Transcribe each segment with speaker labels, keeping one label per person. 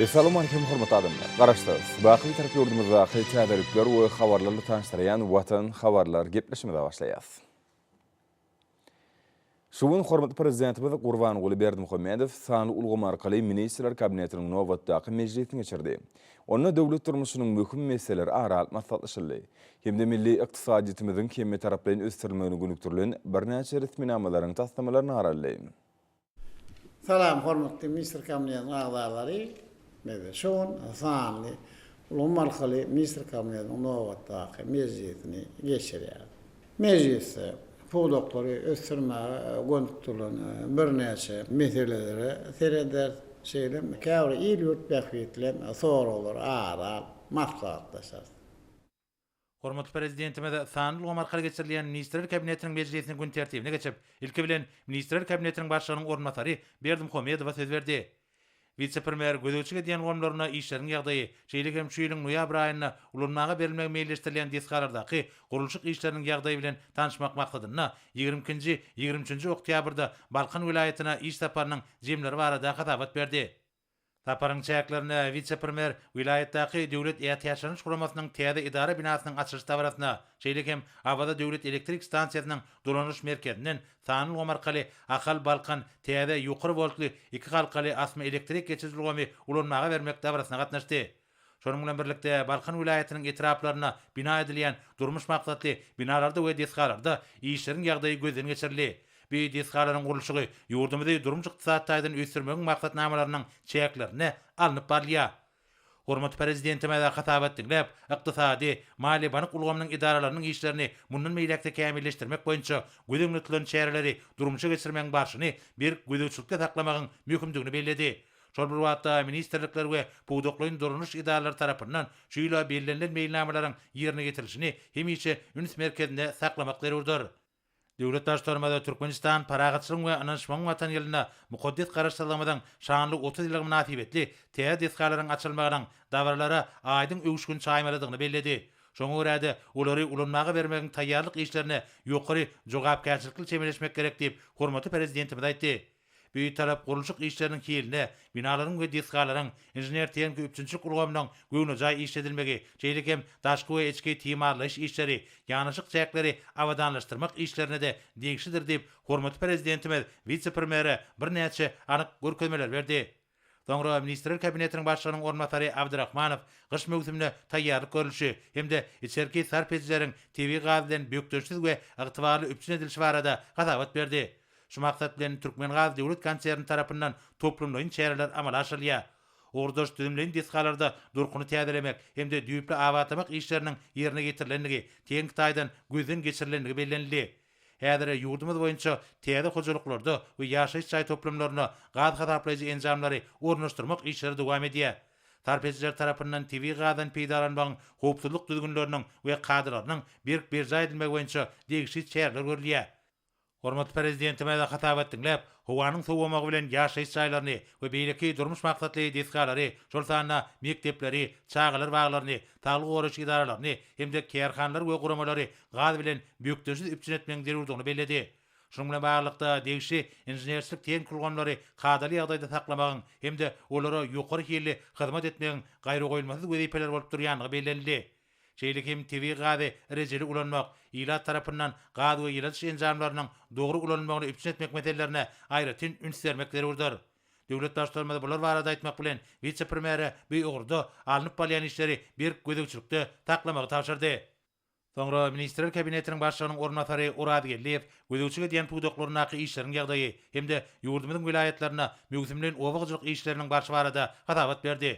Speaker 1: Essalowmalikim hormatly adamlar! Garaşsyz, baky Bitarap ýurdumyzdaky täzelikler we habarlar bilen tanyşdyrýan Watan habarlar gepleşimize başlaýas. Şu gün hormatly Prezidentimiz Gurbanguly Berdimuhamedow sanly ulgam arkaly Ministrler Kabinetiniň nobatdaky mejlisini geçirdi. Onda döwlet durmuşynyň möhüm meseleleri ara alyp maslahatlaşyldy hem-de milli ykdysadyýetimiziň hemmetaraplaýyn ösdürilmegine gönükdirilen birnäçe resminamalaryň taslamalaryny garaldy.
Speaker 2: Salam hormatly ministr kabinetiniň agzalary. Meze şu gün sanly ulgam arkaly ministr kabinetiniň nobatdaky mejlisini geçirýär. Mejlisde pudaklary ösdürmäge gönükdirilen birnäçe meselelere serederis, şeýle käbir il-ýurt bähbitli soraglar ara alyp maslahatlaşarys.
Speaker 3: Hormatly Prezidentimiz sanly ulgam arkaly geçirilýän Ministrler Kabinetiniň mejlisiniň gün tertibine geçip, ilki bilen, Ministrler Kabinetiniň Başlygynyň orunbasary Berdimuhamedowa söz berdi. Wise-premýer gözegçilik edýän ulgamlarynda işleriň ýagdaýy, şeýle hem şu ýylyň noýabr aýynda ulanmaga berilmegi meýilleşdirilýän desgalardaky gurluşyk işleriniň ýagdaýy bilen tanyşmak maksadynda ýigrimi ikinji, ýigrimi üçünji oktýabrda Balkan welaýatyna iş saparynyň jemleri barada hasabat berdi. Saparyň çäklerinde wise-premýer welaýatdaky Döwlet ätiýaçlanyş guramasynyň täze edara binasynyň açylyş dabarasyna, şeýle hem Awaza döwlet elektrik stansiýasynyň dolanyş merkezinden sanly ulgam arkaly Ahal, Balkan täze ýokary woltly iki halkaly asma elektrik geçiriji ulgamy ulanmaga bermek dabarasyna gatnaşdy. Şonuň bilen birlikde, Balkan welaýatynyň etraplarynda bina edilýän durmuş maksatly binalarda we desgalarda işleriň ýagdaýy gözden geçirildi. Bu desgalaryň gurluşygy ýurdumyzy durmuş-ykdysady taýdan ösdürmegiň maksatnamalarynyň çäklerinde alnyp barylýar. Hormatly Prezidentimiz hasabat diňläp, ykdysady, maliýe-bank ulgamynyň edaralarynyň işlerini mundan beýläk-de kämilleşdirmek boýunça göz öňünde tutulan çäreleri durmuşa geçirmegiň barşyny berk gözegçilikde saklamagyň möhümdigini belledi. Şol bir wagtda, ministrlikler we pudaklaýyn dolanyş edaralary tarapyndan şu ýyla bellenilen meýilnamalaryň ýerine ýetirilişini hemişe üns merkezinde saklamak zerurdyr. Döwlet Baştutanymyz Türkmenistan Parahatçylygyň we ynanyşmagyň Watany ýylynda mukaddes Garaşsyzlygymyzyň şanly otuz ýyllygy mynasybetli täze desgalaryň açylmagynyň dabaralara aýdyň öwüşgin çaýmalydygyny belledi. Şoňa görä-de, olary ulanmaga bermegiň taýýarlyk işlerine ýokary jogapkärçilikli çemeleşmek gerek diýip, hormatly Prezidentimiz aýtdy. Bitarap gurluşyk işleriniň hiline, binalaryň we desgalaryň, inžener-tehniki üpjünçilik ulgamynyň göwnejaý işledilmegi, şeýle hem daşky we içki timarlaýyş işleri, ýanaşyk çäkleri abadanlaşdyrmak işlerine-de degişlidir diýip, hormatly Prezidentimiz wise-premýere birnäçe anyk görkezmeler berdi. Soňra Ministrler Kabinetiniň Başlygynyň orunbasary Abdyrahmanow gyş möwsümine taýýarlyk görlüşi hem-de içerki sarp edijileriň tebigy gaz bilen bökdençsiz we ygtybarly üpjün edilişi barada hasabat berdi. Şu maksat bilen Türkmengaz döwlet konserni tarapyndan toplumlaýyn çäreler amala aşyrylýar. Ugurdaş düzümleýin desgalarda durkuny täzelemek hem-de düýpli abatlamak işleriniň ýerine ýetirilendigi, tehniki taýdan gözden geçirilendigi bellenildi. Häzire ýurdumyz boýunça täze hojalyklarda we ýaşaýyş jaý toplumlarynda gaz hasaplaýjy enjamlary ornaşdyrmak işleri dowam edýär. Sarp edijiler tarapyndan tebigy gazdan peýdalanmagyň howpsuzlyk düzgünleriniň we kadalarynyň berk berjaý edilmegi boýunça degişli çäreler görülýär. Hormatly Prezidentimize hasabat diňläp, howanyň sowamagy bilen ýaşaýyş jaýlaryny we beýleki durmuş maksatly desgalary, şol sanda mekdepleri, çagalar baglaryny, saglygy goraýyş edaralaryny hem-de kärhanalary we guramalary gaz bilen bökdençsiz üpjün etmegiň zerurdygyny belledi. Şunuň bilen baglylykda, degişli inženerçilik tehnik ulgamlary kadaly ýagdaýda saklamagyň hem-de olara ýokary hilli hyzmat etmegiň gaýragoýulmasyz wezipeler bolup durýandygy bellenildi. Şeýle hem tebigy gazy rejeli ulanmak, ilat tarapyndan gaz we ýyladyş enjamlarynyň dogry ulanylmagyny üpjün etmek meselelerine aýratyn üns bermek zerurdyr. Döwlet Baştutanymyz bular barada aýtmak bilen, wise-premýere bu ugurda alnyp barylýan işleri berk gözegçilikde saklamagy tabşyrdy. Soňra Ministrler Kabinetiniň Başlygynyň orunbasary Oraz Geldiýew gözegçilik edýän pudaklaryndaky işleriň ýagdaýy hem-de ýurdumyzyň welaýatlarynda möwsümleýin oba hojalyk işleriniň barşy barada hasabat berdi.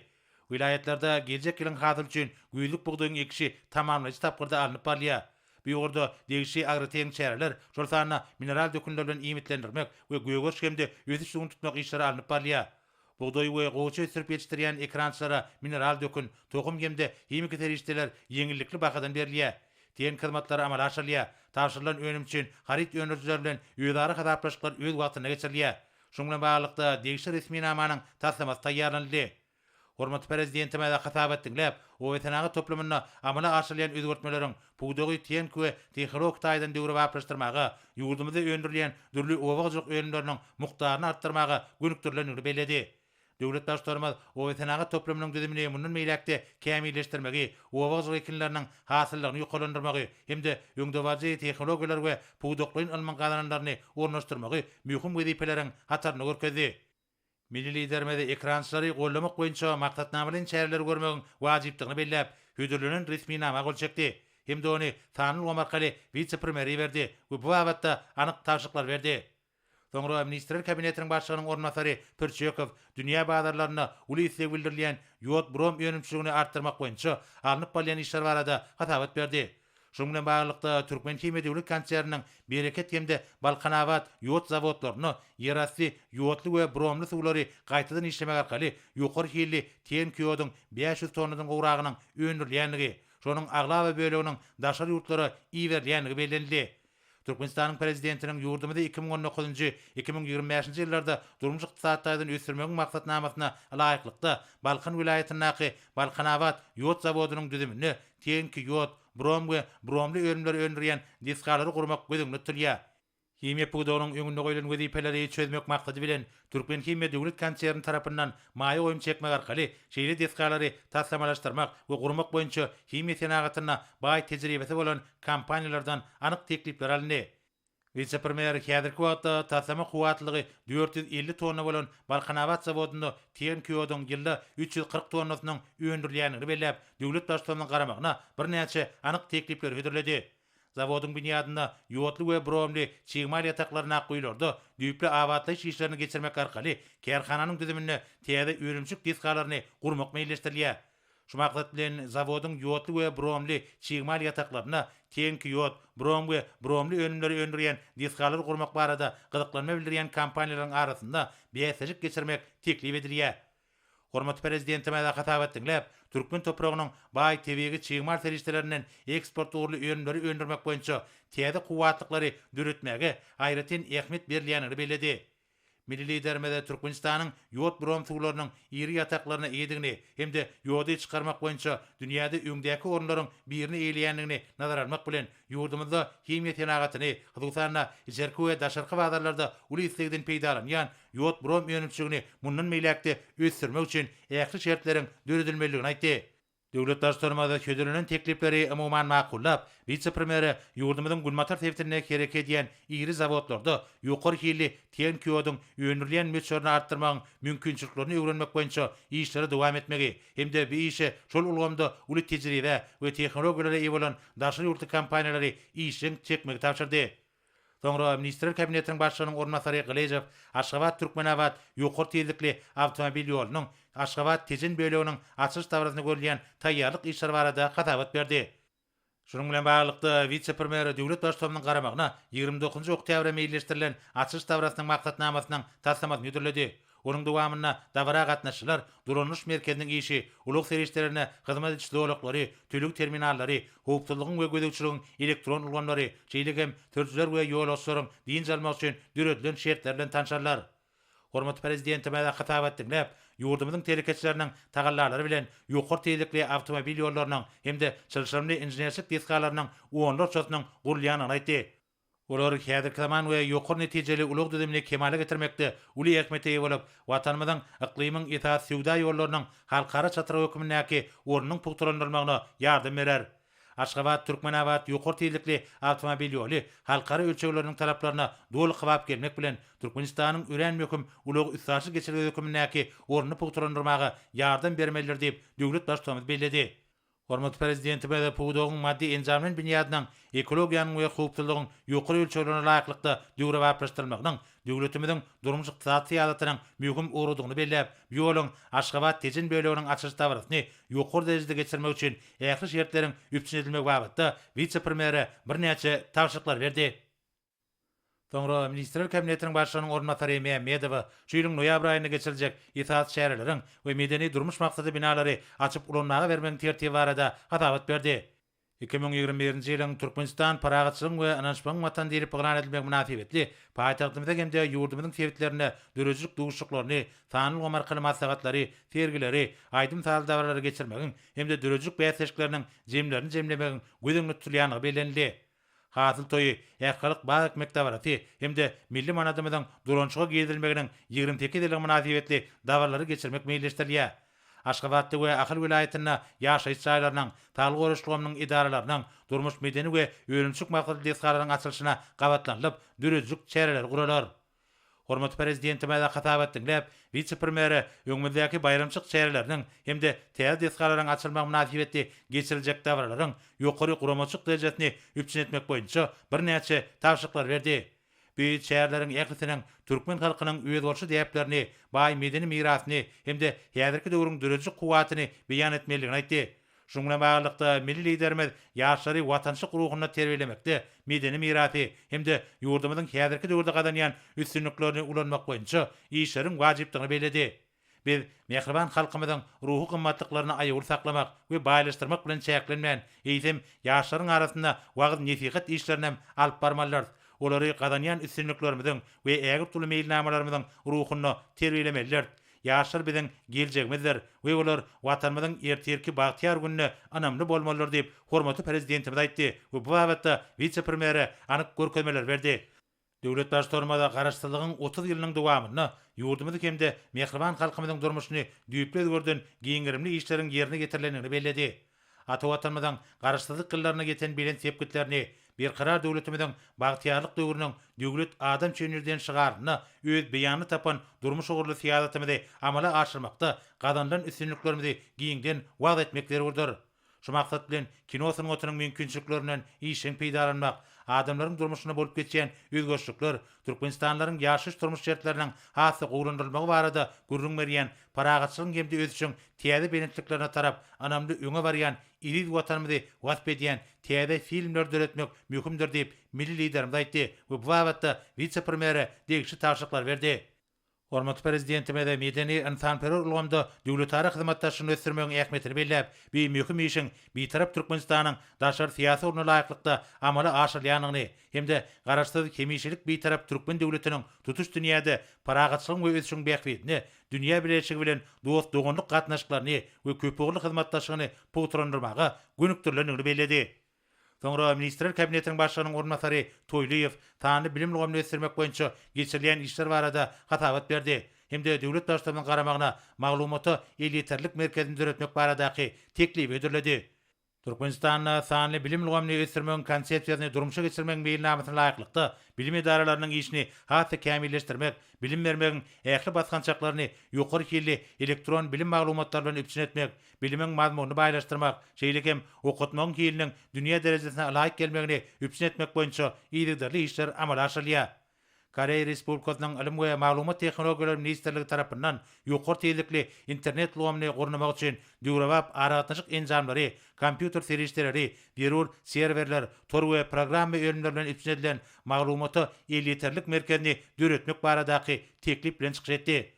Speaker 3: Welaýatlarda geljek ýylyň hasyly üçin güýzlük bugdaýyň ekişi tamamlaýjy tapgyrda alnyp barylýar. Bu ýurda degişli agrotehniki çäreler, şol sanda mineral dökünler bilen iýmitlendirmek we gögeriş hem-de ösüş suwuny tutmak işleri alnyp barylýar. Bugdaý we gowaça ösdürip ýetişdirýän ekerançylara mineral dökün, tohum hem-de himiki serişdeler ýeňillikli bahadan berilýär. TENK hyzmatlary amala aşyrylýar. Tabşyrylan önüm üçin haryt öndürijiler bilen özara hasaplaşyklar öz wagtynda geçirilýär. Şunuň bilen baglylykda, degişli resminamanyň taslamasy taýýarlanyldy. Hormatly Prezidentimiz hasabat diňläp, obasenagat toplumynda amala aşyrylýan özgertmeleriň Pudagy tehniki we tehologik taýdan döwrebaplaşdyrmaga, ýurdumyzda öndürilýän dürli oba hojalyk önümleriniň mukdaryny artdyrmaga gönükdirilendigini belledi. Döwlet Baştutanymyz obasenagat toplumynyň düzümini mundan beýläk-de kämilleşdirmegi, oba hojalyk ekinleriniň hasyllygyny ýokarlandyrmagy hem-de öňdebaryjy tehnologiýalary we pudaklaýyn ylmyň gazananlaryny ornaşdyrmagy möhüm wezipeleriň hatarynda görkezdi. Milli Liderimiz ekrançylary goldamak boýunça maksatnamalaýyn çäreleri görmegiň wajypdygyny belläp, hödürlenen resminama gol çekdi hem-de ony sanly ulgam arkaly wise-premýere iberdi we bu babatda anyk tabşyryklary berdi. Soňra Ministrler Kabinetiniň Başlygynyň orunbasary Pürçekow dünýä bazarlarynda uly isleg bildirilýän ýod-brom önümçiligini artdyrmak boýunça alnyp barylýan işler barada hasabat berdi Şunuň bilen baglylykda, Türkmenhimiýa döwlet konserniniň Bereket hem-de Balkanabat ýod zawodlarynda ýerasty ýodly we bromly suwlary gaýtadan işlemek arkaly ýokary hilli TNK ýoduň bäş ýüz tonnadan gowragynyň öndürilýändigi, şonuň aglaba böleginiň daşary ýurtlara iberilýändigi bellenildi. Türkmenistanyň Prezidentiniň ýurdumyzy iki müň on dokuzynjy, iki müň ýigrimi bäşinji ýyllarda durmuş-ykdysady taýdan ösdürmegiň maksatnamasyna laýyklykda, Balkan welaýatyndaky Balkanabat ýod zawodynyň düzüminde tehniki ýod, brom we bromly önümleri öndürýän desgalary gurmak göz öňünde tutulýar. Himiýa pudagynyň öňünde goýlan wezipeleri çözmek maksady bilen, Türkmenhimiýa döwlet konserni tarapyndan maýa goýum çekmek arkaly şeýle desgalary taslamalaşdyrmak we gurmak boýunça himiýa senagatynda baý tejribesi bolan kompaniýalardan anyk teklipler alyndy. Wise-premýer häzirki wagtda taslama kuwwatlylygy dört ýüz elli tonna bolan Balkanabat zawodynda tehimki ýoduň ýylda üç ýüz kyrk tonnasynyň öndürilýändigini belläp, döwlet Baştutanymyzyň garamagyna birnäçe anyk teklipleri hödürledi. Zawodyň binýadynda ýodly we bromli çig mal ýataklaryny ak guýularda düýpli abatlaýyş işlerini geçirmek arkaly kärhananyň düzüminde täze önümçilik desgalaryny gurmak meýilleşdirilýär. Şu maksat bilen, zawodyň ýodly we bromli çig mal ýataklaryna teňki ýod, brom we bromli önümleri öndürýän desgalary gurmak barada gyzyklanma bildirýän kompaniýalaryň arasynda bäsleşik geçirmek teklip edilýär. Hormatly Prezidentimize hasabat diňläp, türkmen topragynyň baý tebigy çig mal serişdelerinden eksport ugurly önümleri öndürmek boýunça täze kuwwatlyklary döretmäge aýratyn ähmiýet berilýändigini belledi. Milli Liderimiz Türkmenistanyň ýod-brom suwlarynyň iri ýataklaryna eýedigini hem-de ýody çykarmak boýunça dünýäde öňdäki orunlaryň birini eýeleýändigini nazara almak bilen, ýurdumyzda himiýa senagatyny, hususan-da, içerki we daşarky bazarlarda uly islegden peýdalanýan ýod-brom önümçiligini mundan beýläk-de ösdürmek üçin ähli şertleriň döredilmelidigini aýtdy. Döwlet Baştutanymyz hödürlenen teklipleri umuman makullap, wise-premýere ýurdumyzyň günbatar sebitinde hereket edýän iri zawodlarda ýokary hilli tehniki ýoduň öndürilýän möçberini artdyrmagyň mümkinçiliklerini öwrenmek boýunça işleri dowam etmegi hem-de bu işe şol ulgamda uly tejribä we tehnologiýalara eýe bolan daşary ýurtly kompaniýalary işjeň çekmegi tabşyrdy. Soňra Ministrler Kabinetiniň Başlygynyň orunbasary Gylyjow Aşgabat-Türkmenabat ýokary tizlikli awtomobil ýolunyň Aşgabat-Tejen böleginiň açylyş dabarasyna görülýän taýýarlyk işleri barada hasabat berdi. Şunuň bilen baglylykda, wise-premýer Döwlet Baştutanymyzyň garamagyna ýigrimi dokuzynjy oktýabra meýilleşdirilen açylyş dabarasynyň maksatnamasynyň taslamasyny hödürledi. Onuň dowamynda dabara gatnaşyjylar Duralnyş merkeziniň işi, ulag serişdelerine hyzmat ediş zolaklary, töleg terminallary, howpsuzlygyň we gözegçiligiň elektron ulgamlary, şeýle hem sürüjiler we ýolagçylaryň dynç almagy üçin döredilen şertler bilen tanşarlar. Hormatly Prezidentimize hytabat diňläp, ýurdumyzyň telekeçileriniň tagallalary bilen ýokary tizlikli awtomobil ýollarynyň hem-de çylşyrymly inženerçilik desgalarynyň onlarçasynyň gurulýandygyny aýtdy. Olar häzirki zaman we ýokary netijeli ulag düzümini kemala getirmekde uly ähmiýete eýe bolup, Watanymyzyň yklymyň esasy söwda ýollarynyň halkara çatrygy hökmündäki ornunyň pugtalandyrylmagyna ýardam berer. Aşgabat, Türkmenabat ýokary tizlikli awtomobil ýoly halkara ölçegleriniň talaplaryna doly kybap gelmek bilen, Türkmenistanyň örän möhüm ulag-üstaşyr geçelgesi hökmündäki ornuny pugtalandyrmaga ýardam bermelidir diýip, döwlet Baştutanymyz belledi. Hormatly Prezidentimiz pudagyň maddy-enjamlaýyn binýadynyň, ekologiýanyň we howpsuzlygyň ýokary ölçeglerine laýyklykda döwrebaplaşdyrylmagynyň döwletimiziň durmuş-ykdysady syýasatynyň möhüm ugrudygyny belläp, bu ýoluň Aşgabat-Tejen böleginiň açylyş dabarasyny ýokary derejede geçirmek üçin ähli şertleriň üpjün edilmegi babatda wise-premýere birnäçe tabşyryklar berdi. Soňra Ministrler Kabinetiniň Başlygynyň orunbasary Mämmedowa şu ýylyň noýabr aýynda geçiriljek esasy çäreleriň we medeni-durmuş maksatly binalary açyp ulanmaga bermegiň tertibi barada hasabat berdi. Iki müň ýigrimi birinji ýylyň Türkmenistan Parahatçylygyň we ynanyşmagyň Watany diýlip yglan edilmegi mynasybetli paýtagtymyzda hem-de ýurdumyzyň sebitlerinde döredijilik duşuşyklaryny, sanly ulgam arkaly maslahatlary, sergileri, aýdym-sazly dabaralary geçirmegiň hem-de döredijilik bäsleşikleriniň jemlerini jemlemegiň göz öňünde tutulýandygy bellenildi. Hasyl toýy, Ähtihalk bag ekmek dabarasy hem-de milli manadymyzyň Durançuga girizilmeginiň ýigrimi sekiz ýyllygy mynasybetli dabaralary geçirmek meýilleşdirilýär. Aşgabatda we Ahal welaýatynda ýaşaýyş jaýlarynyň, saglygy goraýyş ulgamynyň edaralarynyň, durmuş-medeni we önümçilik maksatly desgalaryň açylyşyna gabatlanylyp, döredijilik çäreleri guralar. Hormatly Prezidentimize hasabat diňläp, wise-premýere öňümizdäki baýramçylyk çäreleriniň hem-de täze desgalaryň açylmagy mynasybetli geçiriljek dabaralaryň ýokary guramaçylyk derejesini üpjün etmek boýunça birnäçe tabşyryklar berdi. Bu çäreleriň ählisiniň türkmen halkynyň özboluşly däplerini, baý medeni mirasyny hem-de häzirki döwrüň döredijilik kuwwatyny beýan etmelidigini aýtdy. Şunuň bilen baglylykda, milli Liderimiz ýaşlary watançylyk ruhunda terbiýelemekde, medeni mirasy hem-de ýurdumyzyň häzirki döwürde gazanýan üstünliklerini ulanmak boýunça işleriň wajypdygyny belledi. Biz mähriban halkymyzyň ruhy gymmatlyklaryny aýawly saklamak we baýlaşdyrmak bilen çäklenmän, eýsem, ýaşlaryň arasynda wagyz-nesihat işlerinem alyp barmalydyrys, olary gazanýan üstünliklerimiziň we ägirt uly meýilnamalarymyzyň ruhunda terbiýelemelidiris. Ýaşlar biziň geljegimizdir we olar Watanymyzyň ertirki bagtyýar gününe ynamly bolmalydyr diýip, hormatly Prezidentimiz aýtdy we bu babatda wise-premýere anyk görkezmeler berdi. Döwlet Baştutanymyz Garaşsyzlygyň otuz ýylynyň dowamynda ýurdumyzy hem-de mähriban halkymyzyň durmuşyny düýpli özgerden giň gerimli işleriň ýerine ýetirilendigini belledi. Ata Watanymyzyň Garaşsyzlyk ýyllaryna ýeten belent sepgitlerini, Berkarar döwletimiziň bagtyýarlyk döwrüniň Döwlet adam üçin ýerden şygarynda öz beýanyny tapan durmuş ugurly syýasatymyzy amala aşyrmakda gazanylan üstünliklerimizi giňden wagyz etmek zerurdyr. Şu maksat bilen kino sungatynyň mümkinçiliklerinden işjeň peýdalanmak, adamlaryň durmuşynda bolup geçýän özgerişlikler, Türkmenistanlylaryň ýaşaýyş-durmuş şertleriniň has-da gowulandyrylmagy barada gürrüň berýän, parahatçylygyň hem-de ösüşiň täze belentliklerine tarap ynamly öňe barýan eziz Watanymyzy wasp edýän täze filmleri döretmek möhümdir diýip, milli Liderimiz aýtdy we bu babatda wise-premýere degişli tabşyryklary berdi. Hormatly Prezidentimiz medeni-ynsanperwer ulgamda döwletara hyzmatdaşlygyny ösdürmegiň ähmiýetini belläp, bu möhüm işiň Bitarap Türkmenistanyň daşary syýasy ugruna laýyklykda amala aşyrylýandygyny hem-de Garaşsyz, hemişelik Bitarap türkmen döwletiniň tutuş dünýäde parahatçylygyň we ösüşiň bähbidine dünýä bileleşigi bilen dost-doganlyk gatnaşyklaryny we köpugurly hyzmatdaşlygyny pugtalandyrmaga gönükdirilendigini belledi. Soňra Ministrler Kabinetiniň Başlygynyň orunbasary Toýlyýew sanly bilim ulgamyny ösdürmek boýunça geçirilýän işler barada hasabat berdi hem-de döwlet Baştutanymyzyň garamagyna Maglumata elýeterlilik merkezini döretmek baradaky teklibi hödürledi. Türkmenistanda sanly bilim ulgamyny ösdürmegiň Konsepsiýasyny durmuşa geçirmegiň meýilnamasyna laýyklykda, bilim edaralarynyň işini has-da kämilleşdirmek, bilim bermegiň ähli basgançaklaryny ýokary hilli elektron bilim maglumatlary bilen üpjün etmek, Bilimiň mazmunyny baýlaşdyrmak, şeýle hem okatmagyň hiliniň dünýä derejesine ylaýyk gelmegini üpjün etmek boýunça yzygiderli işler amala aşyrylýar. Koreýa Respublikasynyň Ylym we maglumat tehnologiýalary ministrligi tarapyndan ýokary tizlikli internet ulgamyny gurnamagy üçin döwrebap aragatnaşyk enjamlary, kompýuter serişdeleri, zerur serwerler, tor we programma önümleri bilen üpjün edilen maglumata elýeterlik merkezini döretmek baradaky teklip bilen çykyş etdi.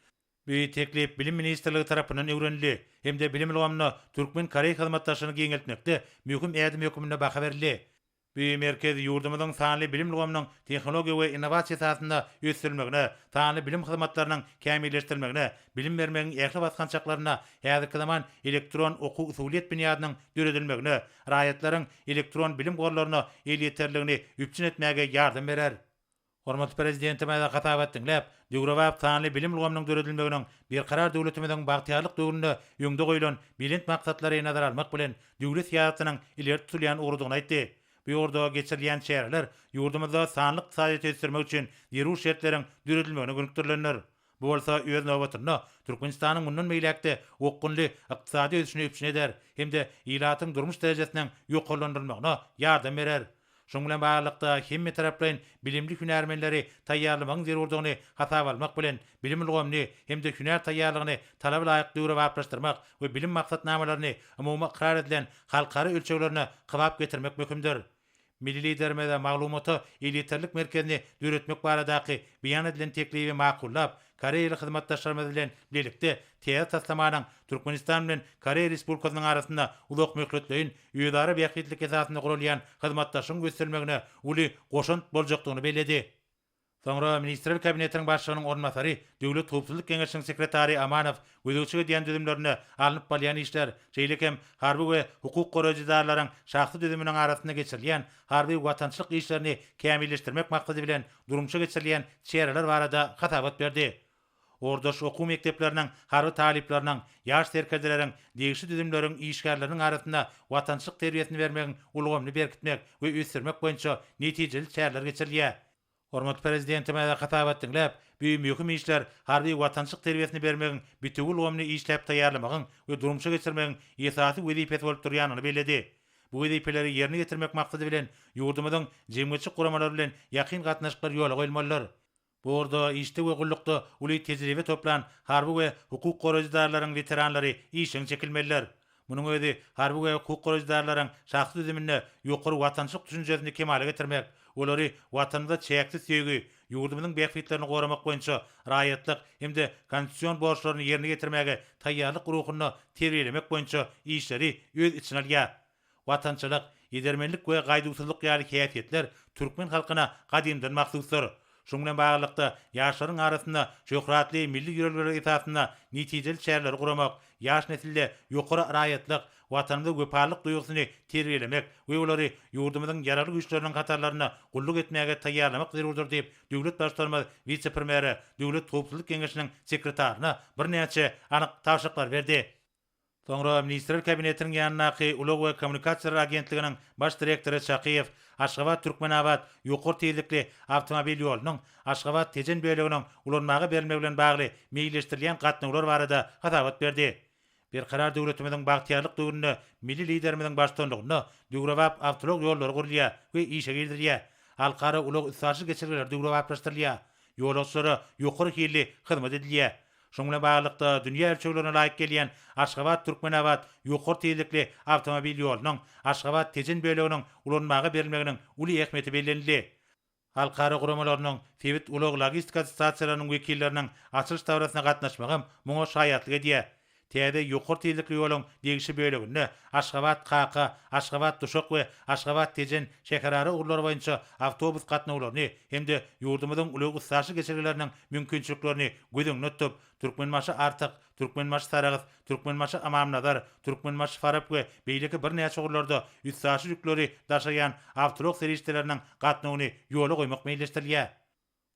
Speaker 3: Bu teklip Bilim ministrligi tarapyndan öwrenildi hem-de bilim ulgamynda türkmen-koreý hyzmatdaşlygyny giňeltmekde möhüm ädim hökmünde baha berildi. Bu merkez ýurdumyzyň sanly bilim ulgamynyň tehnologiýa we innowasiýa esasynda ösdürilmegine, sanly bilim hyzmatlarynyň kämilleşdirilmegine, bilim bermegiň ähli basgançaklarynda häzirki zaman elektron okuw-usulyýet binýadynyň döredilmegine, raýatlaryň elektron bilim gorlaryna elýeterliligini üpjün etmäge ýardam berer. Hormatly Prezidentimize hasaba diňläp, döwrebap sanly bilim ulgamynyň döredilmeginiň Berkarar döwletimiziň bagtyýarlyk döwründe öňde goýlan belent maksatlary nazara almak bilen, döwlet syýasatynyň ileri tutulýan ugrudygyny aýtdy. Bu ugurda geçirilýän çäreler ýurdumyzda sanly ykdysadyýeti ösdürmek üçin zerur şertleriň döredilmegine gönükdirilendir. Bu bolsa, öz nobatynda, Türkmenistanyň mundan beýläk-de okgunly ykdysady ösüşini üpjün eder hem-de ilatyň durmuş derejesiniň ýokarlandyrylmagyna ýardam berer. Şunuň bilen baglylykda, hemmetaraplaýyn bilimli hünärmenleri taýýarlamagyň zerurdygyny hasaba almak bilen, bilim ulgamyny hem-de hünär taýýarlygyny talaba laýyk döwrebaplaşdyrmak we bilim maksatnamalaryny umumy ykrar edilen halkara ölçeglerine kybap getirmek möhümdir. Milli Liderimiz maglumata elýeterlik merkezini döretmek baradaky beýan edilen teklibi makullap, Koreýaly hyzmatdaşlarymyz bilen bilelikde täze taslamanyň Türkmenistan bilen Koreýa Respublikasynyň arasynda uzakmöhletleýin, özara bähbitlilik esasynda guralýan hyzmatdaşlygyň ösdürilmegine uly goşant boljakdygyny belledi. Soňra Ministrler Kabinetiniň Başlygynyň orunbasary, Döwlet howpsuzlyk geňeşiniň sekretary Amanow gözegçilik edýän düzümlerinde alnyp barylýan işler, şeýle hem harby we hukuk goraýjy edaralaryň şahsy düzüminiň arasynda geçirilýän harby watançylyk işlerini kämilleşdirmek maksady bilen durmuşa geçirilýän çäreler barada hasabat berdi. Ordaş okuw mekdepleriniň harby talyplarynyň, ýaş serkerdeleriň, degişli düzümleriň işgärleriniň arasynda watançylyk terbiýesini bermegiň ulgamyny berkitmek we ösdürmek boýunça netijeli çäreler geçirilýär. Hormatly Prezidentimize hasabat diňläp, bu möhüm işler harby watançylyk terbiýesini bermegiň bütewi ulgamyny işläp taýýarlamagyň we durmuşa geçirmegiň esasy wezipesi bolup durýanyny belledi. Bu wezipeleri ýerine ýetirmek maksady bilen, ýurdumyzyň jemgyýetçilik guramalary bilen ýakyn gatnaşyklar ýola goýulmalydyr. Bu ugurda işde we gullukda uly tejribe toplan harby we hukuk goraýjy edaralaryň weteranlary işjeň çekilmelidir. Munuň özi harby we hukuk goraýjydarlaryň şahsy düzüminde ýokary watançylyk düşünjesini kemala getirmek, olary Watanymyza çäksiz söýgi, ýurdumyzyň bähbitlerini goramak boýunça raýatlyk hem-de konstitusion borçlaryny ýerine ýetirmäge taýýarlyk ruhunda terbiýelemek boýunça işleri öz içine alýar. Watançylyk, edermenlik we gaýduwsyzlyk ýaly häsiýetler türkmen halkyna gadymdan mahsusdyr. Şunuň bilen baglylykda, ýaşlaryň arasynda şöhratly milli ýörelgeler esasynda netijeli çäreleri guramak, ýaş nesilde ýokary raýatlyk, Watanymyza wepalylyk duýgusyny terbiýelemek we olary ýurdumyzyň Ýaragly Güýçleriniň hatarlarynda gulluk etmäge taýýarlamak zerurdyr diýip, döwlet Baştutanymyz wise-premýere, Döwlet howpsuzlyk geňeşiniň sekretaryna birnäçe anyk tabşyryklar berdi. Soňra Ministrler Kabinetiniň ýanyndaky Ulag we kommunikasiýalar agentliginiň baş direktory Çakyýew Aşgabat, Türkmenabat ýokary tizlikli awtomobil ýolunyň Aşgabat, Tejen böleginiň ulanmaga berilmegi bilen bagly meýilleşdirilýän gatnawlar barada hasabat berdi. Berkarar döwletimiziň bagtyýarlyk döwründe milli Liderimiziň baştutanlygynda döwrebap awtoulag ýollary gurulýar we işe girizilýär, halkara ulag-üstaşyr geçelgeleri döwrebaplaşdyrylýar, ýolagçylara ýokary hilli hyzmat edilýär, Şunuň bilen baglylykda, dünýä ölçeglerine laýyk gelýän Aşgabat-Türkmenabat ýokary tizlikli awtomobil ýolunyň Aşgabat-Tejen böleginiň ulanmaga berilmeginiň uly ähmiýeti bellenildi. Halkara guramalarynyň, sebit ulag-logistika assosiasiýalarynyň wekilleriniň açylyş dabarasyna gatnaşmagam muňa şaýatlyk edýär. Täze ýokary tizlikli ýoluň degişli böleginde Aşgabat-Kaka, Aşgabat-Duşak we Aşgabat-Tejen şäherara ugurlary boýunça awtobus gatnawlaryny hem-de ýurdumyzyň ulag-üstaşyr geçelgeleriniň mümkinçiliklerini göz öňünde tutup, Türkmenbaşy Artyk, Türkmenbaşy Saragys, Türkmenbaşy Amamnazar, Türkmenbaşy Farap we beýleki birnäçe ugurlarda üstaşyr ýükleri daşaýan awtoulag serişdeleriniň gatnawyny ýola goýmak meýilleşdirilýär.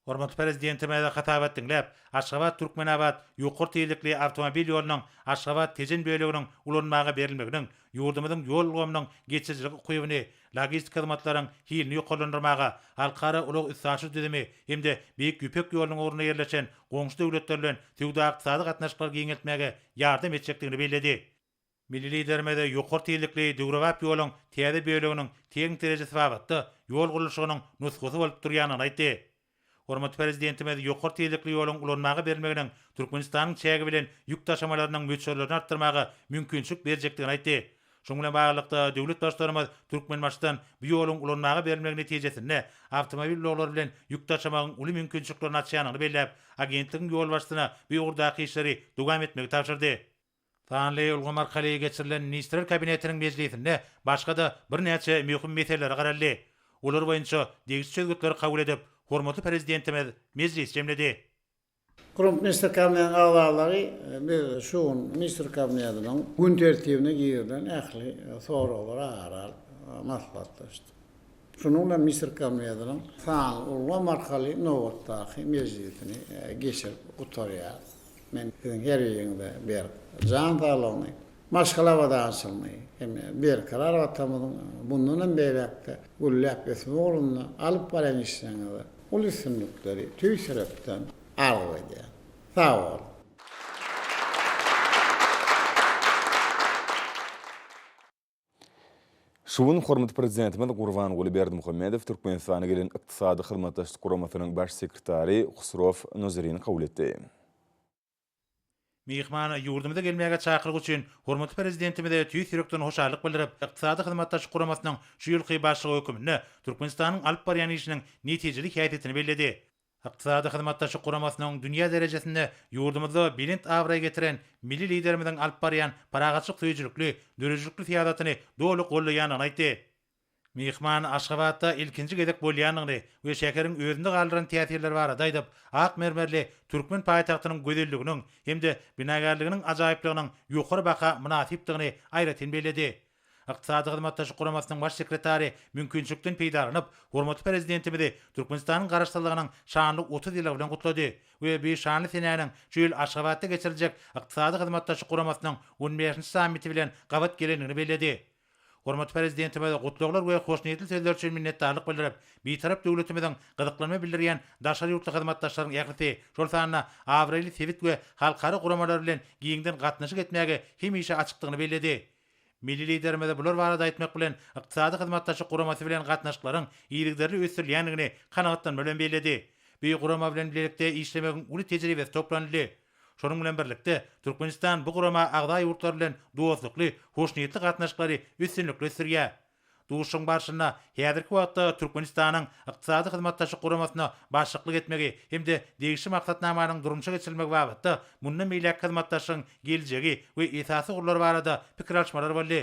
Speaker 3: Hormatly Prezidentimize hatabat diňläp, Aşgabat, Türkmenabat ýokary tizlikli awtomobil ýolunyň Aşgabat, Tejen böleginiň ulanmaga berilmeginiň ýurdumyzyň ýol ulgamynyň geçirijiligi ukybyny logistik hyzmatlaryň hilini ýokarlandyrmaga, halkara ulag-üstaşyr düzümi hem-de Beýik Ýüpek ýolunyň ugrunda ýerleşen goňşy döwletler bilen söwda-ykdysady gatnaşyklary giňeltmäge ýardam etjekdigini belledi. Milli Liderimiz ýokary tizlikli döwrebap ýoluň täze böleginiň tehniki derejesi babatda ýol gurluşygynyň nusgasy bolup durýandygyny aýtdy. Hormatly Prezidentimiz ýokary tizlikli ýoluň ulanmaga berilmeginiň Türkmenistanyň çägi bilen ýük daşamalarynyň möçberlerini artdyrmaga mümkinçilik berjekdigini aýtdy. Şunuň bilen baglylykda, döwlet Baştutanymyz Türkmenbaşydan bu ýoluň ulanmaga berilmegi netijesinde awtomobil ulaglary bilen ýük daşamagyň uly mümkinçiliklerini açýanyny belläp, agentligiň ýolbaşçysyna bu ugurdaky işleri dowam etmegi tabşyrdy. Sanly ulgam arkaly geçirilen Ministrler Kabinetiniň mejlisinde başga-da birnäçe möhüm meselelere garaldy. Olar boýunça degişli çözgütleri kabul edip, hormatly Prezidentimiz mejlisi jemledi. Guramaçy
Speaker 2: Ministrler Kabinetiniň agzalary biz şu gün Ministrler Kabinetiniň gün tertibine girilen ähli soraglara ara alyp maslahatlaşdyk. Şunuň bilen Müsür Kommediýasynyň sanly ulgam arkaly nobatdaky mejlisini geçirip gutarýarys. Men siziň her biriňize berk jan saglygyny, maşgala abadançylygyny hem-de Berkarar Watanymyzyň mundan hem beýläk-de gülläp ösmegi ugrunda alyp barýan işleriňizde uly üstünlikleri tüýs ýürekden arzuw edýän. Sag boluň!
Speaker 1: Şu gün hormatly Prezidentimiz Gurbanguly Berdimuhamedow Türkmenistana gelen Ykdysady Hyzmatdaşlyk Guramasynyň Baş sekretary Husrow Nozerini kabul etdi.
Speaker 3: Myhmana ýurdumyza gelmäge çakyryk üçin hormatly Prezidentimize tüýs ýürekden hoşallyk bildirip, Ykdysady Hyzmatdaşlyk Guramasynyň şu ýylky başlygy höküminde Türkmenistanyň alyp barýan işiniň netijeli häsiýetini belledi. Ykdysady Hyzmatdaşlyk Guramasynyň dünýä derejesinde ýurdumyzda belent abraý getiren Milli Liderimiziň alyp barýan parahatçylyk söýüjilikli, döredijilikli syýasatyny doly goldaýandygyny aýtdy. Myhman Aşgabatda ilkinji gezek bolýandygyny we şäheriň özünde galdyran täsirleri barada aýdyp, ak mermerli türkmen paýtagtynyň gözelliginiň hem-de binagärliginiň ajaýyplygynyň ýokary baha mynasypdygyny aýratyn belledi. Ykdysady Hyzmatdaşlyk Guramasynyň Baş sekretary mümkinçilikden peýdalanyp, hormatly Prezidentimizi Türkmenistanyň Garaşsyzlygynyň şanly otuz ýyllygy bilen gutlady we bu şanly senäniň şu ýyl Aşgabatda geçiriljek Ykdysady Hyzmatdaşlyk Guramasynyň on bäşinji sammiti bilen gabat gelendigini belledi. Hormatly Prezidentimize gutlaglar we hoşniýetli sözler üçin minnetdarlyk bildirip, Bitarap döwletimiziň gyzyklanma bildirýän daşary ýurtly hyzmatdaşlaryň ählisi, şol sanda abraýly sebit we halkara guramalary bilen giňden gatnaşyk etmäge hemişe açykdygyny belledi. Milli Liderimize bular barada aýtmak bilen, Ykdysady Hyzmatdaşlyk Guramasy bilen gatnaşyklaryň yzygiderli ösdürilýändigini kanagatlanma bilen belledi. Bu gurama bilen bilelikde işlemegiň uly tejribesi toplanyldy. Şonuň bilen birlikde, Türkmenistan bu gurama agza ýurtlar bilen dostlukly, hoşniýetli gatnaşyklary üstünlikli ösdürýär. Duşuşygyň barşynda häzirki wagtda Türkmenistanyň Ykdysady Hyzmatdaşlyk Guramasyna başlyklyk etmegi hem-de degişli maksatnamanyň durmuşa geçirilmegi babatda mundan beýläkki hyzmatdaşlygyň geljegi we esasy ugurlary barada pikir alyşmalar boldy.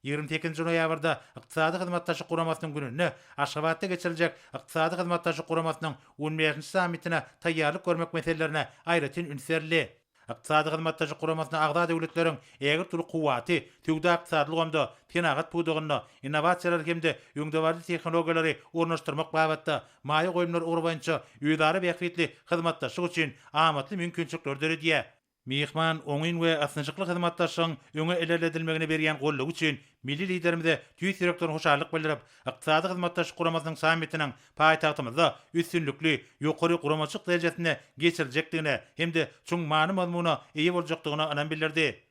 Speaker 3: Ýigrimi sekizinji noýabrda Ykdysady Hyzmatdaşlyk Guramasynyň gününde Aşgabatda geçiriljek Ykdysady Hyzmatdaşlyk Guramasynyň on bäşinji sammitine taýýarlyk görmek meselelerine aýratyn üns berildi. Ykdysady Hyzmatdaşlyk Guramasyna agza döwletleriň ägirt uly kuwwaty söwda-ykdysady ulgamda, senagat pudagynda innowasiýalary hem-de öňdebaryjy tehnologiýalary ornaşdyrmak babatda maýa goýumlar ugry boýunça özara bähbitli hyzmatdaşlyk üçin amatly mümkinçilikleri döredýär. Myhman oňyn we ysnyşykly hyzmatdaşlygyň öňe ilerledilmegine berýän goldawy üçin Milli Liderimize tüýs ýürekden hoşallyk bildirip, Ykdysady Hyzmatdaşlyk Guramasynyň sammitiniň paýtagtymyzda üstünlikli, ýokary guramaçylyk derejesinde geçiriljekdigine hem-de çuň many-mazmuna eýe boljakdygyna ynam bildirdi.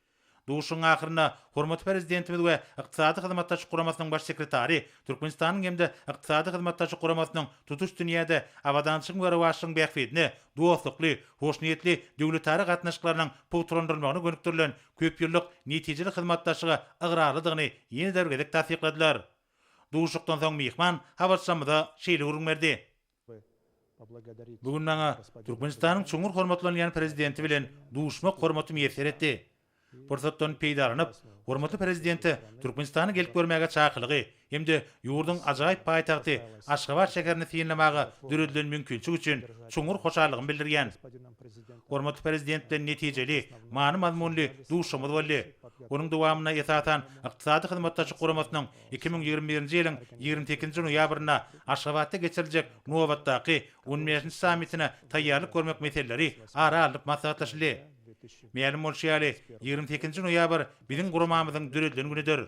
Speaker 3: Duşuşygyň ahyrynda hormatly Prezidentimiz we Ykdysady Hyzmatdaşlyk Guramasynyň Baş sekretary Türkmenistanyň hem-de Ykdysady Hyzmatdaşlyk Guramasynyň tutuş dünýäde abadançylygyň we rowaçlygyň bähbidine dostlukly, hoşniýetli döwletara gatnaşyklarynyň pugtalandyrylmagyna gönükdirilen köp ýyllyk netijeli hyzmatdaşlyga ygrarlydygyny ýene-de bir gezek tassykladylar. Duşuşykdan soň myhman habarçymyza şeýle gürrüň berdi. Bu gün maňa Türkmenistanyň çuňňur hormatlanylýan Prezidenti bilen duşuşmak hormaty miýesser etdi. Pursatdan peýdalanyp, hormatly Prezidente Türkmenistana gelip görmäge çakylygy, hem-de ýurduň ajaýyp paýtagty Aşgabat şäherini synlamaga döredilen mümkinçilik üçin çuňňur hoşallygymy bildirýän. Hormatly Prezident bilen netijeli, many-mazmunly duşuşygymyz boldy. Onuň dowamynda, esasan, Ykdysady Hyzmatdaşlyk Guramasynyň iki müň ýigrimi birinji ýylyň ýigrimi sekizinji noýabrynda Aşgabatda geçiriljek nobatdaky on bäşinji sammitine taýýarlyk görmek meseleleri ara alnyp maslahatlaşyldy. Mälim bolşy ýaly, ýigrimi sekizinji noýabr biziň guramamyzyň döredilen günüdir.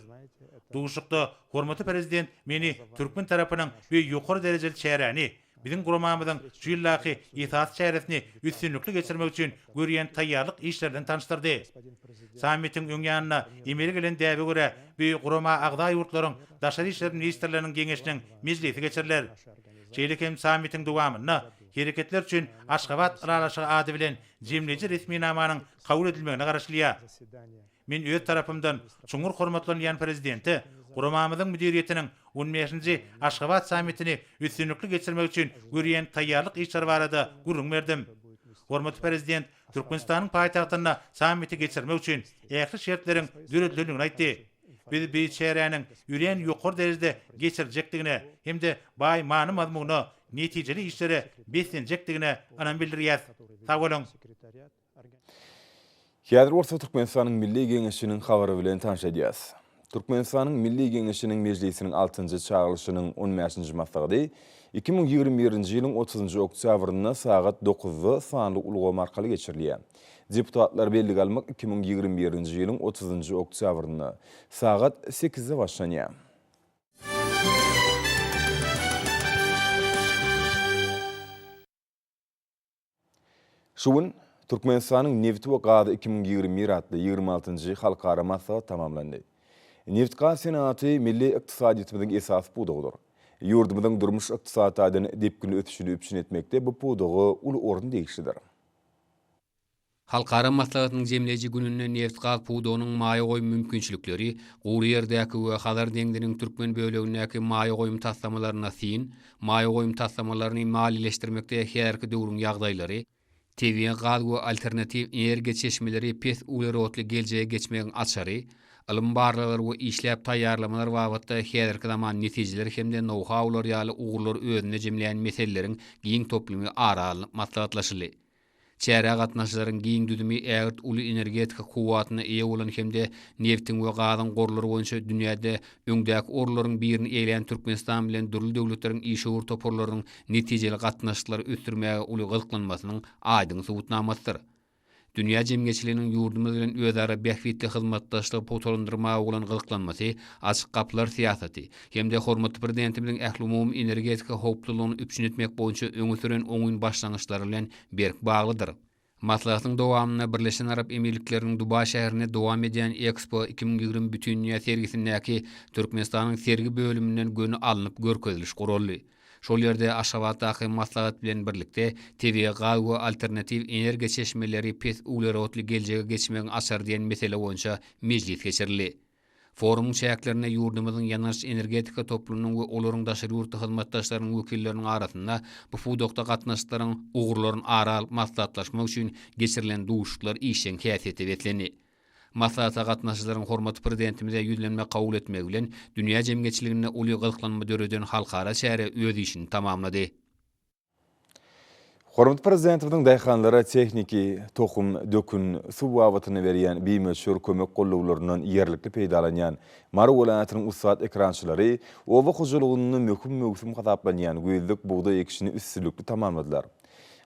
Speaker 3: Duşuşykda hormatly Prezident meni türkmen tarapynyň bu ýokary derejeli çäräni, biziň guramamyzyň şu ýyldaky esasy çäresini üstünlikli geçirmek üçin görýän taýýarlyk işleri bilen tanyşdyrdy. Sammitiň öň ýanyna emele gelen däbe görä, bu gurama agza ýurtlaryň Daşary işler ministrleriniň geňeşiniň mejlisi geçiriler. Şeýle hem sammitiň dowamynda Hereketler üçin Aşgabat ylalaşygy ady bilen jemleýji resminamanyň kabul edilmegine garaşylýar. Men öz tarapymdan çuňňur hormatlanýan Prezidente guramamyzyň müdiriýetiniň on bäşinji Aşgabat sammitini üstünlikli geçirmek üçin görýän taýýarlyk işleri barada gürrüň berdim. Hormatly Prezident Türkmenistanyň paýtagtynda sammiti geçirmek üçin ähli şertleriň döredilendigini aýtdy. Biz bu çäräniň örän ýokary derejede geçirijekdigine hem-de baý many-mazmuna, netijeli işlere beslenjekdigine ynam bildirýäs. Sag boluň!
Speaker 1: Häzir bolsa Türkmenistanyň Milli Geňeşiniň habary bilen tanyş edýäs. Türkmenistanyň Milli Geňeşiniň Mejlisiniň altynjy çagyrylyşynyň on bäşinji maslahaty iki müň ýigrimi birinji ýylyň otuzynjy oktýabrynda sagat dokuzda sanly ulgam arkaly geçirilýär. Deputatlar bellige almak iki müň ýigrimi birinji ýylyň otuzynjy oktýabrynda sagat sekizde başlanýar. Şu gün Türkmenistanyň Nebit we gazy iki müň ýigrimi bir atly ýigrimi altynjy halkara maslahat tamamlandy. Nebit-gaz senagaty milli ykdysadyýetimiziň esasy pudagydyr. Ýurdumyzyň durmuş-ykdysady taýdan depginli ösüşini üpjün etmekde bu pudaga uly orun degişlidir. Halkara
Speaker 4: maslahatynyň jemleýji gününde nebit-gaz pudagynyň maýa goýum mümkinçilikleri, gury ýerdäki we Hazar deňziniň türkmen bölegindäki maýa goýum taslamalaryna syn, maýa goýum taslamalaryny maliýeleşdirmekde häzirki döwrüň ýagdaýlary, tebigy gaz we alternatiw energiýa çeşmeleri pes uglerodly geljege geçmegiň açary, ylym-barlaglar we işläp taýýarlamalar babatda häzirki zaman netijeleri hem-de nou-haular ýaly ugurlary özünde jemleýän meseleleriň giň toplumy ara alnyp maslahatlaşyldy. Çärä gatnaşyjylaryň giň düzümi ägirt uly energetika kuwwatyna eýe bolan hem-de nebtiň we gazyň gorlary boýunça dünýäde öňdäki orunlaryň birini eýelän Türkmenistan bilen dürli döwletleriň işewür toparlarynyň netijeli gatnaşyklary ösdürmäge uly gyzyklanmasynyň aýdyň subutnamasydyr. Dünýä jemgyýetçiliginiň ýurdumyz bilen özara bähbitli hyzmatdaşlygy pugtalandyrmaga bolan gyzyklanmasy, Açyk gapylar syýasaty hem-de hormatly Prezidentimiziň ählumumy energetika howpsuzlygyny üpjün etmek boýunça öňe süren oňyn başlangyçlary bilen berk baglydyr. Maslahatyň dowamynda Birleşen Arap Emirlikleriniň Dubaý şäherinde dowam edýän Expo iki müň ýigrimi bütindünýä sergisindäki Türkmenistanyň sergi bölüminden göni alnyp görkeziliş guraldy. Şol ýerde Aşgabatdaky maslahat bilen birlikde tebigy gaz we alternatiw energiýa çeşmeleri pes uglerodly geljege geçmegiň açary diýen mesele boýunça mejlis geçirildi. Forumyň çäklerinde ýurdumyzyň ýangyç-energetika toplumynyň we olaryň daşary ýurtly hyzmatdaşlarynyň wekilleriniň arasynda bu pudakda gatnaşyklaryň ugurlaryny ara alyp maslahatlaşmak üçin geçirilen duşuşyklar işjeň häsiýete beslendi. Maslahata gatnaşyjylaryň hormatly Prezidentimize ýüzlenme kabul etmegi bilen, dünýä jemgyýetçiliginde uly gyzyklanma döreden halkara çäre öz işini tamamlady.
Speaker 1: Hormatly Prezidentimiziň daýhanlara tehniki, tohum, dökün, suw babatynda berýän bimöçber kömek gollawlaryndan ýerlikli peýdalanýan Mary welaýatynyň ussat ekrançylary oba hojalygynda möhüm möwsüm hasaplanýan güýzlük bugdaý ekişini üstünlikli tamamladylar.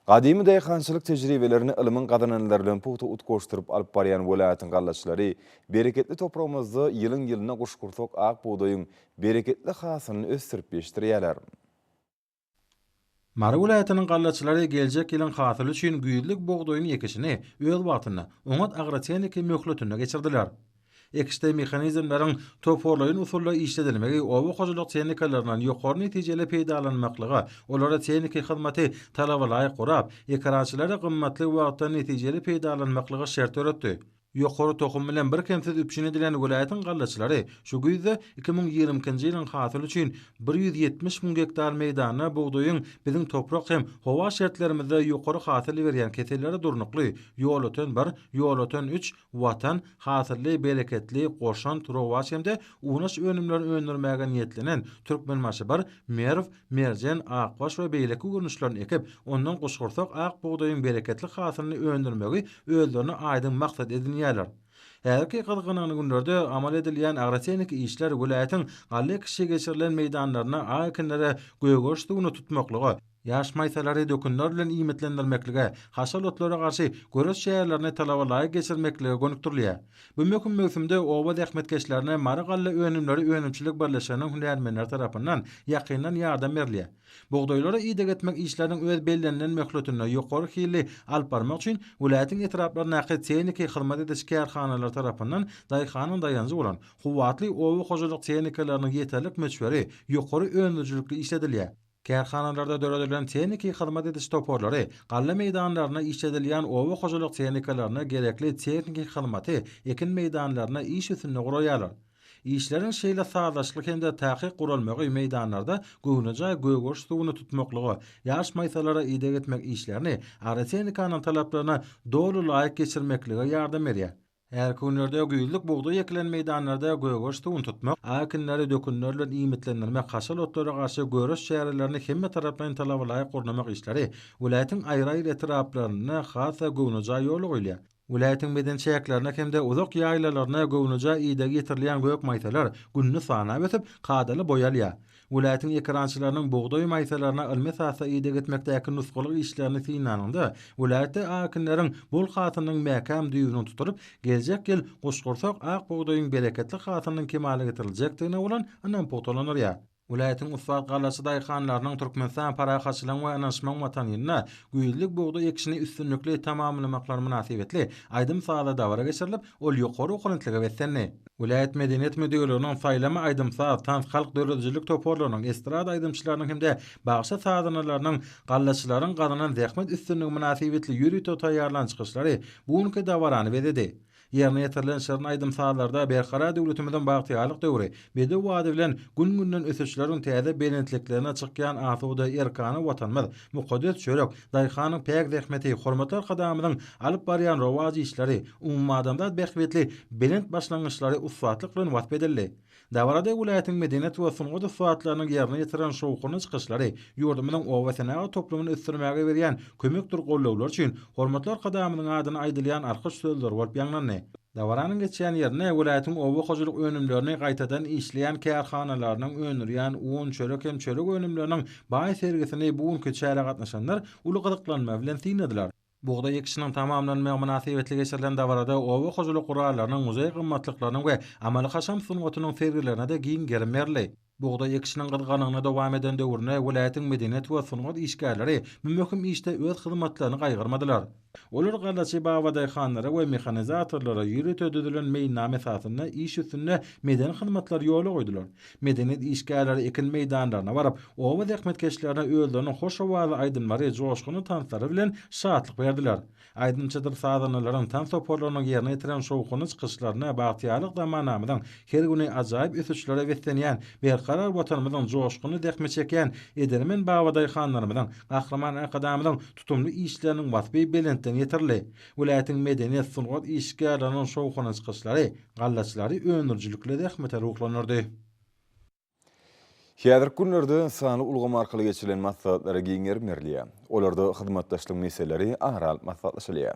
Speaker 1: Gadymy daýhançylyk tejribelerini ylmyň gazananlary bilen pugta utgaşdyryp alyp barýan welaýatyň gallaçylary bereketli topragymyzda ýylyň-ýylyna guşgursak ak bugdaýyň bereketli hasylyny ösdürip ýetişdirýärler.
Speaker 5: Mary welaýatynyň gallaçylary geljek ýylyň hasyly üçin güýzlük bugdaýyň ekişini öz wagtynda, oňat agrotehniki möhletinde geçirdiler. Ekişde mehanizmleriň toparlaýyn usulda işledilmegi oba hojalyk tehnikalaryndan ýokary netijeli peýdalanmaklyga, olary tehniki hyzmaty talabalaýyk gurap, ekerançylara gymmatly wagtdan netijeli peýdalanmaklyga şert döretdi. Ýokary tohum bilen birkemsiz üpjün edilen welaýatyň gallaçylary şu güýzde iki müň ýigrimi ikinji ýylyň hasyly üçin bir ýüz ýetmiş müň gektar meýdanda bugdaýyň biziň toprak hem howa şertlerimizde ýokary hasyl berýän keselleri durnukly, ýolöten bir, ýolöten üç, Watan, hasylly, bereketli, goşant, rowaç hem-de unaş önümleri öndürmäge niýetlenen Türkmenbaşybir, Merw, Merjen, Akbaş we beýleki görnüşlerini ekip, ondan guşgursak ak bugdaýyň bereketli hasylyny öndürmegi özlerine aýdyň maksat edinýärler. Häzirki gyzgyn günlerde amal edilýän agrotehniki işler welaýatyň galla ekişi geçirilen meýdanlarynda ak ekinlere gögeriş suwuny tutmaklyga, Ýaş maýsalary dökünler bilen iýmitlendirmeklige, haşal otlara garşy göreş çärelerini talaba laýyk geçirmeklige gönükdirilýär. Bu möhüm möwsümde oba zähmetkeşlerine Mary galla önümleri önümçilik birleşiginiň hünärmenleri tarapyndan ýakyndan ýardam berilýär. Bugdaýlara ideg etmek işleriniň öz bellenilen möhletinde ýokary hilli alyp barmak üçin welaýatyň etraplaryndaky tehniki hyzmat ediş kärhanalary tarapyndan daýhanyň daýanjy bolan kuwwatly oba hojalyk tehnikalarynyň ýeterlik möçberi ýokary öndürijilikli işledilýär. Kärhanalarda döredilen tehniki hyzmat ediş toparlary galla meýdanlarynda işledilýän oba hojalyk tehnikalaryna gerekli tehniki hyzmaty ekin meýdanlarynda iş üstünde guraýarlar. Işleriň şeýle sazlaşykly hem-de takyk guralmagy meýdanlarda göwnejaý gögeriş suwuny tutmaklyga, ýaş maýsalara ideg etmek işlerini agrotehnikanyň talaplaryna doly laýyk geçirmeklige ýardam berýär. Hälki günlerde güýzlük bugdaý ekilen meýdanlarda gögert suwuny tutmak, a ekinleri dökünler bilen iýmitlendirmek, haşal otlara garşy göreş çärelerini hemmetaraplaýyn talabalaýyk gurnamak işleri welaýatyň aýry-aýry etraplarynda has-da göwnejaý ýola goýulýar. Welaýatyň medeni çäklerine hem-de uzak ýaýlalaryna göwnejaý ideg ýetirilýän gök maýsalar günde sanap ösüp, kadaly boý alýar. Welaýatyň ekerançylarynyň bugdaý maýsalaryna ylmy esasda ideg etmekdäki nusgalyk işlerini synlanyňda, welaýatda akinleriň bol hasylynyň mäkäm düýbüniň tutulyp, geljek ýyl goşgursak ak bugdaýyň bereketli hasylynyň kemala getiriljekdigine bolan ynam pugtalandyrýar. Welaýatyň ussat gallaçy daýhanlarynyň Türkmenistan parahatçylygyň we ynanyşmagyň watanynda güýzlük bugdaý ekişini üstünlikli tamamlamaklary mynasybetli aýdym-sazly dabara geçirilip, Ol ýokary okunitlige beslendi. Welaýat medeniýet müdirliginiň Saýlama aýdym-saz, tans, halk döredijilik toparlarynyň, estrada aýdymçylarynyň hem-de bagşy sazandalarynyň gallaçylaryň gazanan zähmet üstünligi mynasybetli ýörite taýýarlan çykyşlary bu günki dabarany bezedi. Ýerine ýetirilen şirin aýdym-sazlarda Berkarar döwletimiziň bagtyýarlyk döwri, Bedew wady bilen gün-günden ösüşleriň täze belentliklerine çykýan asuda erkana Watanymyz, mukaddes çörek, daýhanyň päk zähmeti, hormatly Arkadagymyzyň alyp barýan rowaç işleri, umumadamzat bähbitli belent başlangyçlary ussatlyk bilen wasp edildi. Dabarada welaýatyň medeniýet we sungat ussatlarynyň ýerine ýetiren şowhunly çykyşlary ýurdumyzyň obasenagat toplumyny ösdürmäge berýän kömekdir gollawlar üçin hormatly Arkadagymyzyň adyna aýdylýan alkyş sözleri bolup ýaňlandy. Dabaranyň geçýän ýerine welaýatyň oba hojalyk önümlerini gaýtadan işleýän kärhanalarynyň öndürýän un, çörek hem çörek önümleriniň baý sergisini bu günki çärä gatnaşanlar uly gyzyklanma bilen synladylar. Bugdaý ekişiniň tamamlanmagy mynasybetli geçirilen dabarada oba hojalyk gurallarynyň, muzeý gymmatlyklarynyň we amaly-haşam sungatynyň sergilerine-de giň gerim berildi. Bugdaý ekişiniň gyzgalaňyna dowam eden döwründe welaýatyň medeniýet we sungat işgärleri bu möhüm işde öz hyzmatlaryny gaýgyrmadylar. Olar gallaçy babadaýhanlara we mehanizatorlara ýörite düzülen meýilnama esasynda iş üstünde medeni hyzmatlary ýola goýdular. Medeniýet işgärleri ekin meýdanlaryna baryp, oba zähmetkeşlerine özleriniň hoş owazly aýdymlary, joşgunly tanslary bilen şatlyk berdiler. Aýdymçydyr sazandalaryň, tans toparlarynyň ýerine ýetiren şowhunly çykyşlaryna bagtyýarlyk zamanamyzyň her güni ajaýyp ösüşlere beslenýän, berkarar Watanymyzyň joşgunly zähmet çekýän edermen babadaýhanlarymyzyň, Gahryman Arkadagymyzyň tutumly işleriniň waspy belentden ýetirildi. Welaýatyň medeniýet, sungat işgärleriniň şowhunly çykyşlary gallaçylary öndürijilikli zähmete ruhlandyrdy.
Speaker 1: Häzirki günlerde sanly ulgam arkaly geçirilen maslahatlara giň gerim berilýär. Olarda hyzmatdaşlygyň meseleleri ara alyp maslahatlaşylýar.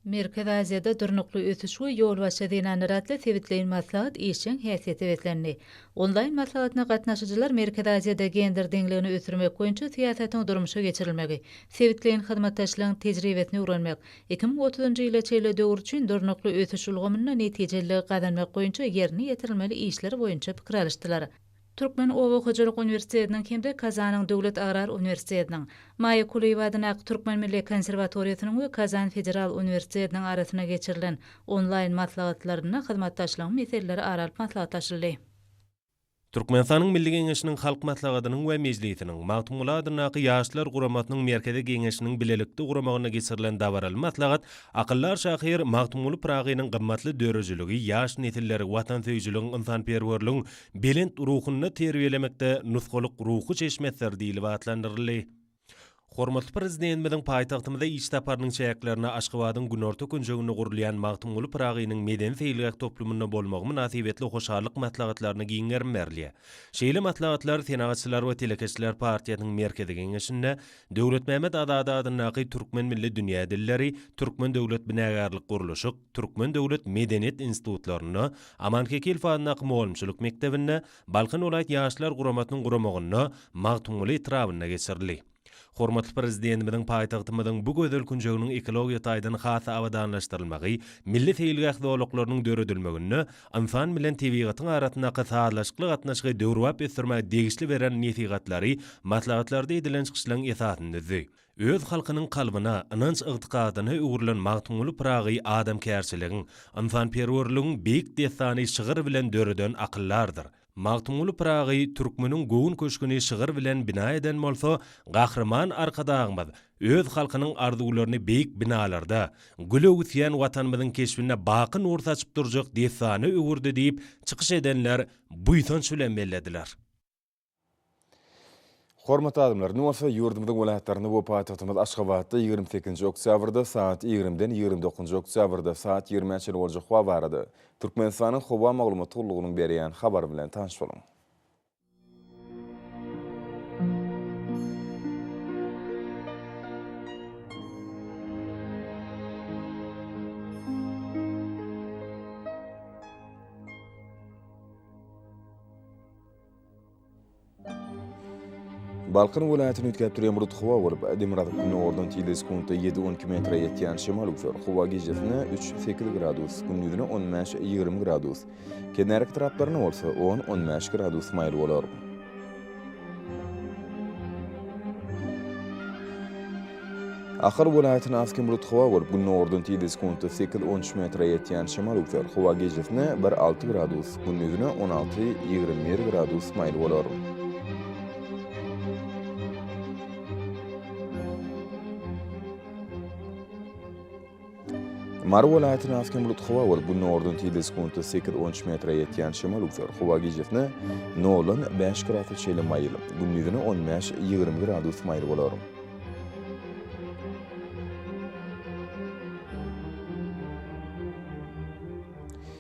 Speaker 6: Merkezi Aziýada durnukly ösüş we ýolbaşçy zenanlar atly sebitleýin maslahat işjeň häsiýete beslendi. Onlaýn maslahatyna gatnaşyjylar Merkezi Aziýada gender deňligini ösdürmek boýunça syýasatyň durmuşa geçirilmegi, sebitleýin hyzmatdaşlygyň tejribesini öwrenmek, Iki müň otuzynjy ýyla çenli döwür üçin durnukly ösüş ulgamynda netijeliligi gazanmak boýunça ýerine ýetirilmeli işler boýunça pikir alyşdylar. Türkmen oba hojalyk uniwersitetiniň hem-de Kazanyň döwlet agrar uniwersitetiniň, Maýa Kulyýewa adyndaky Türkmen milli konserwatoriýasynyň we Kazan federal uniwersitetiniň arasynda geçirilen onlaýn maslahatlarynda hyzmatdaşlygyň meseleleri ara alyp maslahatlaşyldy.
Speaker 7: Türkmenistanyň Milli Geňeşiniň Halk Maslahatynyň we Mejlisiniň, Magtymguly adyndaky Ýaşlar guramasynyň Merkezi Geňeşiniň bilelikde guramagynda geçirilen dabaraly maslahat akyldar şahyr Magtymguly Pyragynyň gymmatly döredijiligi ýaş nesilleri watansöýüjiligiň, ynsanperwerligiň belent ruhunda terbiýelemekde nusgalyk ruhy çeşmesidir diýlip atlandyryldy. Hormatly Prezidentimiziň paýtagtymyza iş saparynyň çäklerinde Aşgabadyň günorta künjeginde gurulýan Magtymguly Pyragynyň medeni-seýilgäh toplumynda bolmagy mynasybetli hoşallyk maslahatlaryna giň gerim berilýär. Şeýle maslahatlar Senagatçylar we telekeçiler partiýasynyň Merkezi Geňeşinde Döwletmämmet Azady adyndaky Türkmen milli dünýä dilleri, Türkmen döwlet binagärlik-gurluşyk, Türkmen döwlet medeniýet institutlarynda, Aman Kekilf adyndaky mugallymçylyk mekdebinde, Balkan welaýat Ýaşlar guramasynyň guramagynda Magtymguly etrabynda geçirildi. Hormatly Prezidentimiziň paýtagtymyzyň bu gözel künjeginiň ekologiýa taýdan has-da abadanlaşdyrylmagy, milli seýilgäh zolaklarynyň döredilmeginde ynsan bilen tebigatyň arasyndaky sazlaşykly gatnaşygy döwrebap ösdürmäge degişli beren nesihatlary maslahatlarda edilen çykyşlaryň esasyny düzdi. Öz halkynyň kalbyna, ynanç-ygtykadyna öwrülen Magtymguly Pyragy adamkärçiligiň, ynsanperwerligiň beýik dessany şygyr bilen döreden akyldardyr. Magtymguly Pyragy türkmeniň göwün köşgüni şygyr bilen bina eden bolsa, Gahryman Arkadagymyz öz halkynyň arzuwlaryny beýik binalarda, güle öwüsýän Watanymyzyň keşbinde baky nur saçyp durjak dessana öwürdi diýip, çykyş edenler buýsanç bilen bellediler.
Speaker 1: Hormatly adamlar, indi bolsa ýurdumyzyň welaýatlarynda we paýtagtymyz Aşgabatda ýigrimi sekizinji oktýabrda sagat ýigrimiden ýigrimi dokuzynjy oktýabrda sagat ýigrimä çenli boljak howa barada Türkmenistanyň Howa maglumat gullugynyň berýän habary bilen tanyş boluň. Balkan welaýatyny üýtgäp durýan bulut howa bolup, demirgazyk gündogardan tizligi sekuntda ýedi-on iki metre ýetýän şemal üwser. Howa gijesi-ne üç-sekiz gradus, gündizine on bäş-ýigrimi gradus, kenarki taraplarynda bolsa on-on bäş gradus maýyl bolar. Ahal welaýatyny az hem bulut howa bolup, gündogardan tizde sekuntda sekiz, on üç metre ýetýän şemal öwser. Howa gijesine bir, alty gradus, gündizine on alty, ýigrimi bir gradus maýyl bolar. Mary welaýatyny asgyn bulut howa bolup, günordan tizde sekuntda sekiz on üç metre ýetýän şemal uçar. Howa gijesine noldan bäş gradus çenli maýyl, gündizine on bäş ýigrimi gradus maýyl bolar.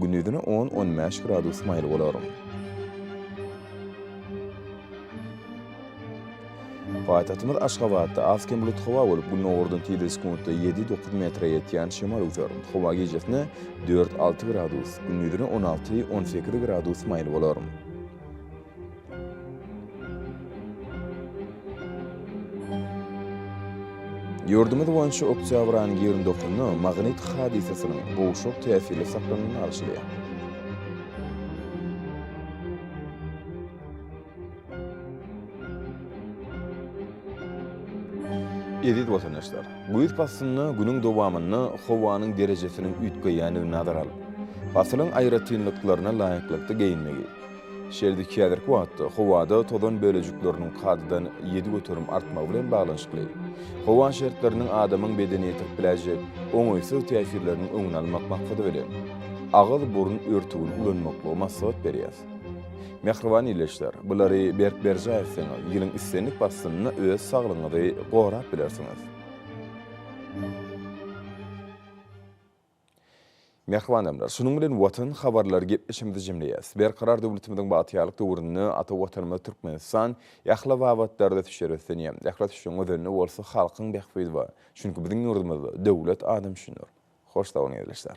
Speaker 1: Gündizine on-on bäş gradus maýyl bolar. Paýtagtymyz Aşgabatda az-kem bulut howa bolup, gündogardan tizligi sekuntda ýedi-dokuz metre ýetýän şemal öwser. Howa gijesine dört-alty gradus, gündizine on alty-on sekiz gradus maýyl bolar. Ýurdumyz boýunça oktýabr aýynyň ýigrimi dokuzynda magnit hadysasynyň gowşak täsirli saklanylyny alşylýar. Eziz watandaşlar! Güýz paslynda günüň dowamynda howanyň derejesiniň üýtgeýändigini nazara alyp, pasylyň aýratynlyklaryna laýyklykda geýinmegi, Şeýle-de häzirki wagtda howada tozan bölejikleriniň kadadan ýedi göterim artmagy bilen baglanyşykly, howa şertleriniň adamyň bedenine ýetirip biläýjek oňaýsyz täsirleriniň öňüni almak maksady bilen, agyz-burun örtügini ulanmaklygy maslahat berýäris. Mähriban ildeşler, bulary berk berjaý etseňiz, ýylyň islendik paslynda öz saglygyňyzy gorap bilersiňiz. Mähriban adamlar, şunuň bilen Watan habarlary gepleşigimizi jemleýäs. Berkarar döwletimiziň bagtyýarlyk döwründe ata Watanymyz Türkmenistan ähli babatlarda düşer ösdünýär. Ähli ösüşiň özenini bolsa halkyň bähbidi we çünki biziň ýurdumyzda döwlet adam üçindir. Hoş sag boluň ildeşler.